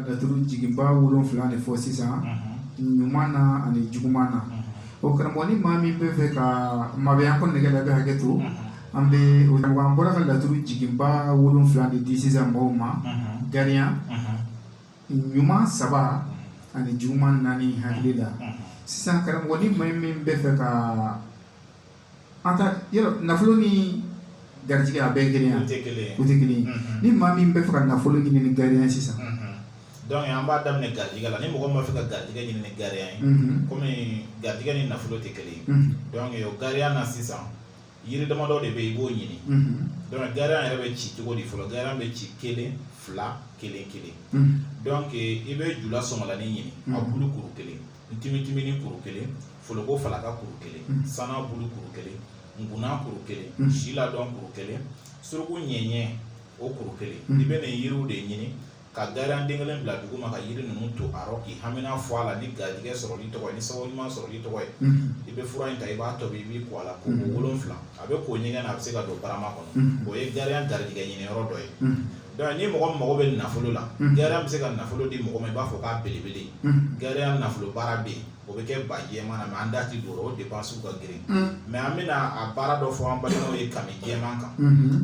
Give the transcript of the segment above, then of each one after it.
Laturu jiginba wolonfila de fɔ sisan ɲuman na ani juguman na o karamɔgɔ ni maa min bɛ fɛ ka maya ko nɛgɛ bɛ hakɛto an bɛ an bɔra ka laturu jiginba wolonfila de di sisan mɔgɔw ma gariya ɲuman saba ani juguman naani hakili la sisan karamɔgɔ ni maa min bɛ fɛ ka an ka yɔrɔ nafolo ni garijigɛ a bɛɛ kelen ye wa? U tɛ kelen ye. U tɛ kelen ye. Unhun. Ni maa min bɛ fɛ ka nafolo ɲini ni gariya ye sisan. Unhun. Donc an b'a daminɛ garijigɛ la ni mɔgɔ min b'a fɛ ka garijigɛ ɲini ni gariya ye Unhun. komi garijigɛ ni nafolo tɛ kelen ye Unhun. donc o gariya la sisan yiri damadɔ de bɛ yen i b'o ɲini Unhun. donc gariya yɛrɛ bɛ ci cogo di fɔlɔ gariya bɛ ci kelen fila kelen kelen Unhun. donc i bɛ jula sɔngalanin ɲini a Mhm. bulu kuru kelen ntimitiminnin kuru kelen foloko falaka kuru kelen mm. sana bulu kuru kelen nkuna kuru kelen mm. si ladɔn kuru kelen suruku ɲɛɲɛ o kuru kelen mm. i bɛ nin yiriw de ɲini ka gariya den kelen bila dugu ma ka yiri ninnu to a rɔ k'i hamina fɔ a la ni garijɛgɛ sɔrɔli tɔgɔ ye ni sababu ɲuman sɔrɔli tɔgɔ ye i bɛ fura in ta i b'a tobi i b'i ko a la ko wolonfila a bɛ ko ɲɛgɛn na a bɛ se ka don barama kɔnɔ o ye gariya garijɛgɛ ɲini yɔrɔ dɔ ye Dɔnku ni mɔgɔ mago bɛ nafolo la gariya bɛ se ka nafolo di mɔgɔ ma i b'a fɔ k'a belebele gariya nafolo baara bɛ o bɛ kɛ ba jɛman na mɛ an da tɛ don o de ba su ka girin mɛ an bɛna a baara dɔ fɔ an balimaw ye kami jɛman kan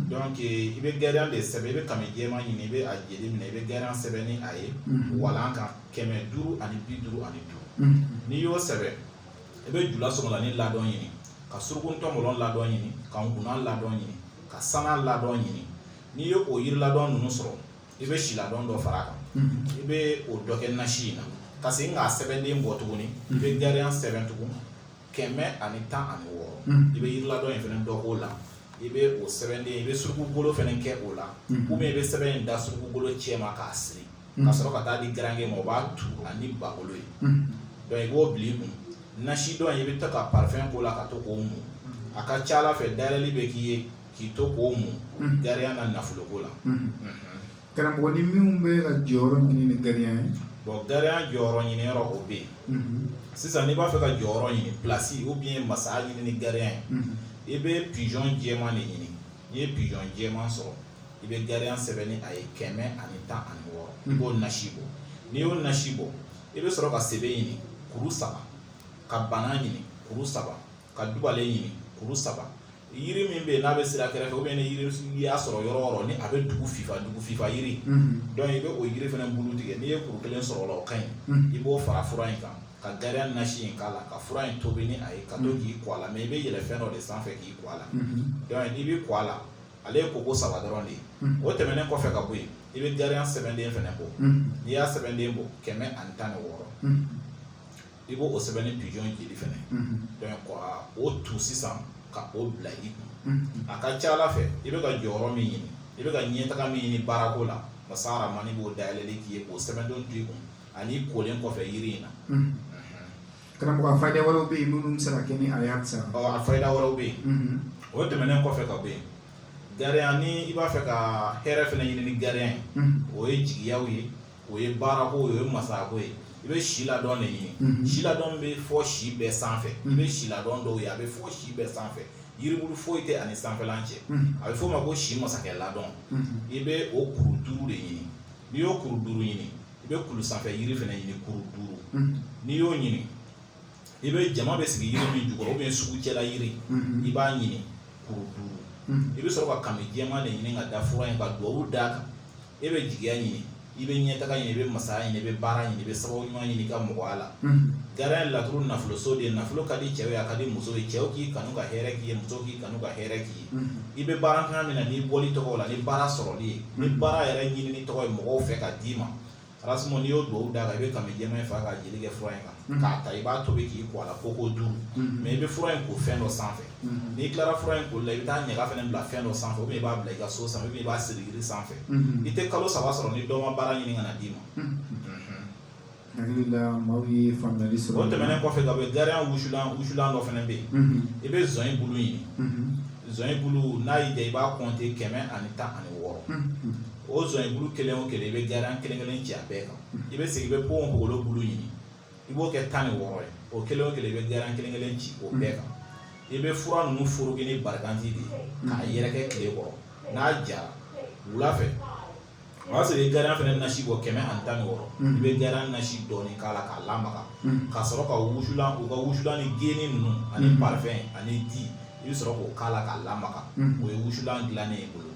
dɔnke i bɛ gariya de sɛbɛn i bɛ kami jɛman ɲini i bɛ a jeli minɛ i bɛ gariya sɛbɛn ni a ye walan kan kɛmɛ duuru ani bi duuru ani duuru n'i y'o sɛbɛn i bɛ jula sɔngalanin ladɔn ɲini ka surugutɔn ladɔn ɲini ka nkuna ladɔn ɲini ka sana ladɔn ɲini n'i ye o yiriladɔn ninnu sɔrɔ i bɛ siladɔn dɔ fara a kan i bɛ o dɔ kɛ nasi in na ka se k'a sɛbɛnden bɔ tuguni i bɛ gariya sɛbɛn tugun kɛmɛ ani tan ani wɔɔrɔ i bɛ yiriladɔn in fana dɔ o la i bɛ o sɛbɛnden i bɛ sugukolo fana kɛ o la u bɛ i bɛ sɛbɛn in da sugukolo cɛ ma k'a siri ka sɔrɔ ka taa di garankɛ ma o b'a tugu ni bagolo ye dɔnku i b'o bila i kun nasi tɔ in i bɛ ta ka parifɛn k'o la ka to k'o mun a ka ca ala fɛ dali bɛ k'i ye K'i to k'o mun gariya ka nafoloko la karamɔgɔ ni minnu bɛ ka jɔyɔrɔ ɲini ni gariya ye bon gariya jɔyɔrɔ ɲini yɔrɔ o bɛ yen sisan n'i b'a fɛ ka jɔyɔrɔ ɲini plasi u bɛ ye masaya ɲini ni gariya ye i bɛ pizɔn jɛman de ɲini n'i ye pizɔn jɛman sɔrɔ i bɛ gariya sɛbɛn ni a ye kɛmɛ ani tan ani wɔɔrɔ i b'o nasi bɔ n'i y'o nasi bɔ i bɛ sɔrɔ ka sebe ɲini kuru saba ka bana ɲini kuru saba ka dubalen ɲini kuru saba yiri min bɛ yen n'a bɛ sira kɛrɛfɛ ou bien ni yiri n'i y'a sɔrɔ yɔrɔ o yɔrɔ ni a bɛ dugu fifa dugu fifa yiri donc i bɛ o yiri fana bulu tigɛ n'i ye kuru kelen sɔrɔ o la o ka ɲi i b'o fara fura in kan ka gariya nasi in k'a la ka fura in tobi ni a ye ka to k'i ko a la mais i bɛ yɛlɛ fɛn dɔ de sanfɛ k'i ko a la donc n'i bɛ ko a la ale ye koko saba dɔrɔn de ye o tɛmɛnen kɔfɛ ka bɔ yen i bɛ gariya sɛbɛnden fana bɔ n'i y'a sɛbɛnden bɔ kɛmɛ ani tan ni wɔɔrɔ i b'o o sɛbɛn ni pigeon jeli fana ye ko o tu sisan ka o bila i kun a ka ca ala fɛ i bɛ ka jɔyɔrɔ min ɲini i bɛ ka ɲɛtaga min ɲini baarako la masa rahman b'o dayɛlɛ k'i ye o sɛbɛnden to i kun ani kolen kɔfɛ yiri in na karamɔgɔ fa wɛrɛ bɛ yen minnu sara kɛ ni a sa a fa wɛrɛ bɛ yen o tɛmɛnen kɔfɛ ka bɔ yen gariya ni i b'a fɛ ka hɛrɛ fana ɲini ni gariya ye o ye jigiya ye o ye baarako ye o ye masako ye i bɛ si ladɔn de ɲini si ladɔn bɛ fo si bɛɛ sanfɛ i bɛ si ladɔn dɔw ye a bɛ fo si bɛɛ sanfɛ yiribulu foyi tɛ a ni sanfɛla cɛ a bɛ f'o ma ko si masakɛ ladɔn i bɛ o kuru duuru de ɲini n'i y'o kuru duuru ɲini i bɛ kulu sanfɛ yiri fana ɲini kuru duuru n'i y'o ɲini i bɛ jama bɛ sigi yiri min jukɔrɔ bɛ sugu cɛla yiri i b'a ɲini kuru duuru i bɛ sɔrɔ ka kami jɛma de ɲini ka da f in ka dugawu da kan e bɛ jigiya ɲini i bɛ ɲɛtaga ɲini i bɛ masaya ɲini i bɛ baara ɲini i bɛ sababu ɲuman ɲini ka mɔgɔya la ga ye laturu nafoloso de ye nafolo ka di cɛ ye a ka di muso ye cɛw k'i kanu ka hɛrɛ k'i ye muso k'i kanu ka hɛrɛ k'i ye i bɛ baara kan min na n'i bɔ tɔgɔ la ni baara sɔrɔli ye ni baara yɛrɛ ɲini tɔgɔ ye mɔgɔw fɛ ka d'i ma alas n'i y'o dugawu da kan i bɛ kami jɛma in faga ka jeli kɛ fura in kan k'a ta i b'a tobi k'i ko a la koko duuru mais i bɛ fura in ko fɛn dɔ sanfɛ n'i tilara fura in ko la i bɛ taa ɲaga fana bila fɛn dɔ sanfɛ i b'a bila i ka so sanfɛ i b'a siri jiri sanfɛ i tɛ kalo saba sɔrɔ ni dɔ ma baara ɲini ka n'a d'i ma o tɛmɛnen kɔfɛ ka bɔ yen gariya wusulan wusulan dɔ fana bɛ yen i bɛ zɔn in bulu ɲini zɔn in bulu n'a y'i diya i b'a kɔnte kɛmɛ ani tan ani wɔɔrɔ o son i bulu kelen o kelen i bɛ gariya kelen kelen ci bɛɛ kan i bɛ segin i bɛ bon golo bulu ɲini i b'o kɛ tan ni wɔɔrɔ ye o kelen o kelen i bɛ gariya kelen kelen ci o bɛɛ kan i bɛ fura ninnu furu kɛ ni barikati de ye k'a yɛrɛkɛ tile kɔrɔ n'a jara wula fɛ o y'a sɔrɔ i gariya fana nasi bɔ kɛmɛ ani tan ni wɔɔrɔ i bɛ gariya nasi dɔɔni k'a la k'a lamaga ka sɔrɔ ka wusulan u ka wusulan ni geni ninnu ani parifɛn ani di i bɛ sɔrɔ k'o k'a la k'a lamaga o ye wusulan dilannen y'i bolo